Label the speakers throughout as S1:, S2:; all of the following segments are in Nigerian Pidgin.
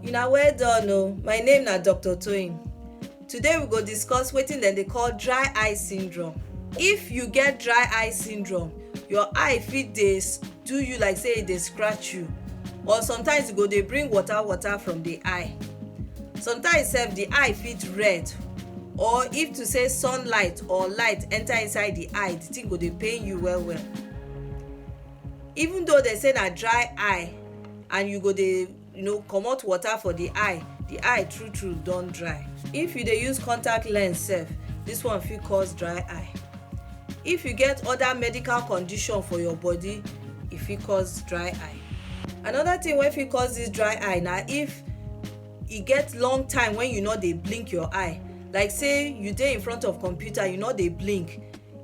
S1: Una well done o, my name na Doctor Toyin. Today we go discuss wetin dem dey call dry eye syndrome. If you get dry eye syndrome, your eye fit dey do you like sey e dey scratch you or sometimes e go dey bring water water from de eye. Sometimes sef de eye fit red or if to sey sunlight or light enter inside de eye, de thing go dey pain you well well. even though dem say na dry eye and you go dey you know comot water for the eye the eye true true don dry if you dey use contact lens sef this one fit cause dry eye if you get other medical condition for your body e fit cause dry eye another thing wey fit cause this dry eye na if e get long time when you no dey blink your eye like say you dey in front of computer you no dey blink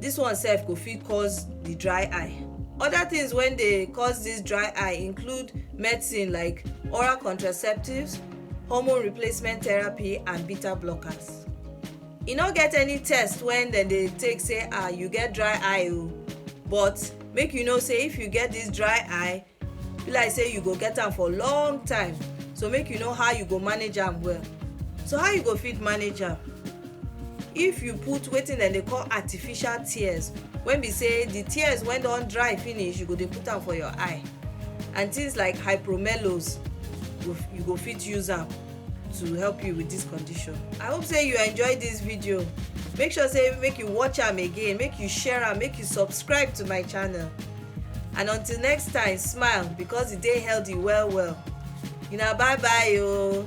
S1: This one sef go fit cause the dry eye. Other things when they cause this dry eye include medicine like oral contraceptives, hormone replacement therapy and beta blockers. E no get any test when dem dey take say ah you get dry eye o but make you know say if you get this dry eye be like say you go get am for long time so make you know how you go manage am well so how you go fit manage am if you put wetin dem dey call artificial tears when be say the tears when don dry finish you go dey put am for your eye and things like hypromelos you go fit use am to help you with this condition i hope say you enjoy this video make sure say make you watch am again make you share am make you subscribe to my channel and until next time smile because e dey healthy well well una bye bye ooo.